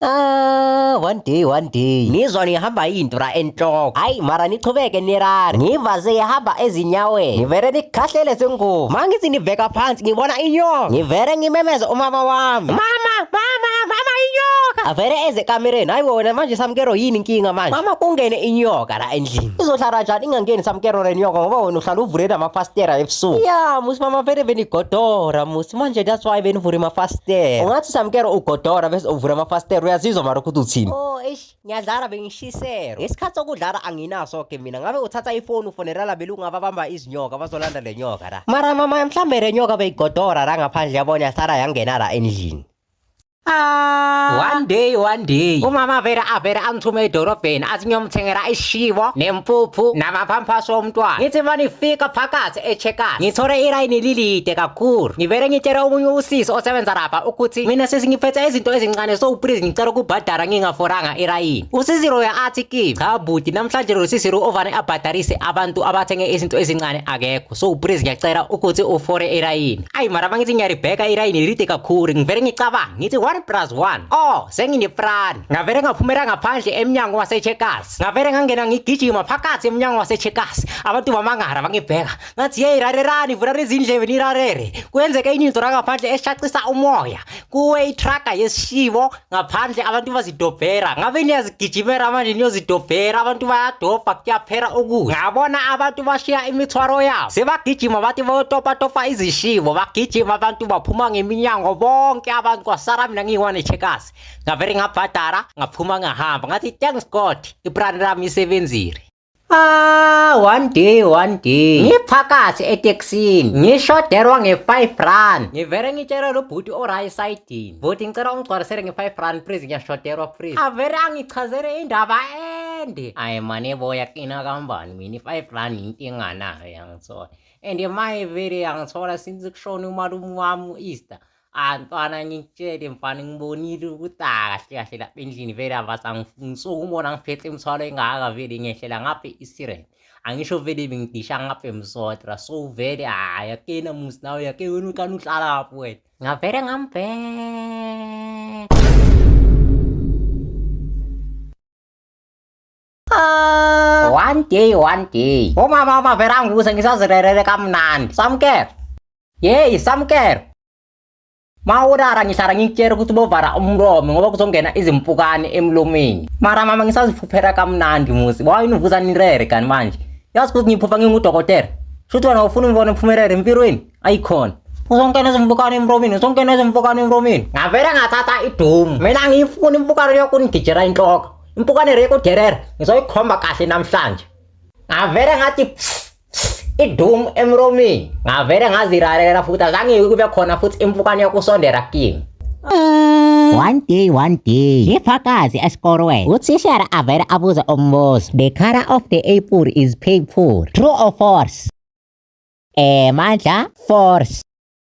Ah, one day one day ngizwa ngihamba indura enhloko hayi mara nichubeke nirari ngiva seyihamba ezinyaweni ngivere nikhahlele sengubo ma ngithi niveka phansi ngibona inyoka ngivere ngimemeze umama wami mama mama mama inyoka avere eze kamereni hayi wona manje samkero yini inkinga manje mama kungene inyoka endlini izohlala njani ingangeni samkero renyoka ngoba wena uhlala uvule namafastera ebusuku ya musi mama vele benigodora musi manje that's why benivule amafastera ungathi samkero ugodora bese uvula amafastera uyazizwa mara ukuthi uthini oh eish ngiyadlala bengishisero ngesikhathi sokudlala anginaso ke mina ngabe uthatha ifoni ufonela labelungu ababamba izinyoka bazolanda le nyoka la mara mama mhlawumbe le nyoka beyigodora la ngaphandle yabona yasala yangena la endlini Ah. one day one day umama vele avele angithume edorobheni athi ngiyomthengela ishibo nempuphu namaphamphaso omntwana ngithi uma nifika phakathi echekasi ngithole ilayini lilide kakhulu ngivele ngitshele omunye usisi osebenza lapha ukuthi mina sesingiphethe izinto ezincane so please ngicela ukubhadara ngingaforanga ilayini usisi loyo athi kimi cha buti namhlanje lo sisi lo ovane abhadarise abantu abathenge izinto ezincane akekho so please ngiyacela ukuthi ufore irayini ayi mara mangithi ngiyaribheka irayini lide kakhulu ngivele ngicabanga ngithi 1 plus 1 oh senginefrani ngavele ngaphumela ngaphandle emnyango wasecheckers ngavele ngangena ngigijima phakathi emnyango wasecheckers abantu bamangara bangibheka ngathi yeyi rarerani vula lezindlebe nirarere kwenzeke inyinto rangaphandle eshaqisa umoya kuwe itraga yesishibo ngaphandle abantu bazidobhera ngabe niyazigijimela manje niyozidobhera abantu bayadobha kuyaphela ukudla ngabona abantu bashiya imithwaro yabo sebagijima bathi bayotopatopa izishibo bagijima abantu baphuma ngeminyango bonke abantu kwasara mina ngiyi-one checkers ngavele ngabhadara ngaphuma ngahamba ngathi thanks god ibrand lami isebenzile Ah, one day, one day. Ngiphakathi etekisini. Ngishoderwa nge-5 rand. Ngivele ngitshela lo bhuti o-right side-ini. Bhuti ngicela ungigcwalisele nge-5 rand please ngiyashoderwa please. Avele angichazele indaba ende. Ayi mane boya kina kambani mina i-5 rand yinto enganayo yangisola. And maye vele yangithola since kushone umalume wami u-Easter. Ah mfana ngitshele mfana ngibonile ukuthi kahle kahle lapha endlini vele abasangifuni so ukubona ngiphethe imithwalo engaka vele ngehlela ngaphe isiren angisho vele bengidisha ngaphe msotra so vele hayi akena musi nawe yake wena ukani uhlala lapho wena ngavele ngambheka Ah. one day one day umama umavera angikuze ngisazirerere kamnandi samukelo yeyi samukelo ma urara ngihlala ngikutshela ukuthi bovara umlomo ngoba kuzongena izimpukane emlomeni mara mama ngisaziphuphela kamnandi muzi wayini uvuza nirere kanti manje yazi ukuthi ngiphupha ngingudokotela shuthi wena ufuna umbona mphumelele empilweni ayikhona uzongena ezimpukane emlomeni uzongena ezimpukane emlomeni ngavele ngathatha idomu mina ngiyifuna impukane yokunigijela inhloko impukane reko derere ngizoyikhomba kahle namhlanje ngavele ngathi idum emromini ngavele ngaziralela futhi azange kube khona futhi impukane yokusondela kimi One day, one day, ifakazi esikorweni uthishara avele abuze umbuzo the color of the apple is purple true or false eh mandla force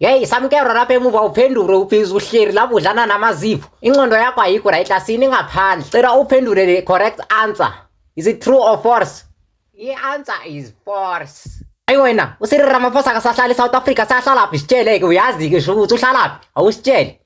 yeyi samukelo lapha emuva uphendule uphiza uhleli lapho udlana namazipho incondo yakho ayikho right asini ngaphandle cela uphendule the correct answer is it true or false i-answer is false ayi wena usirira amaphosa akasahlali i-south africa sahlalaphi sitsheleke uyazi-ke sho ukuthi uhlalaphi awusitshele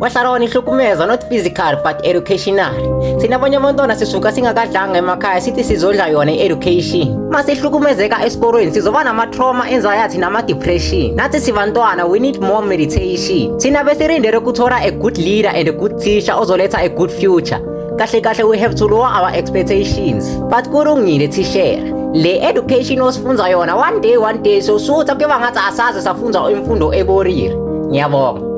wasarona ihlukumezwa not physical but educational thina abanye abantwana sisuka singakadlanga emakhaya sithi sizodla yona i-education uma sihlukumezeka esikolweni sizoba nama-trauma anxiety nama-depression nathi sibantwana we need more meditation thina besirindele ukuthola a good leader and a good teacher ozoletha a good future kahle kahle we have to lower our expectations but kulungile thishera le education osifunza yona one day one day sosuthi kuyoba ngathi asaze safunza imfundo eborire ngiyabonga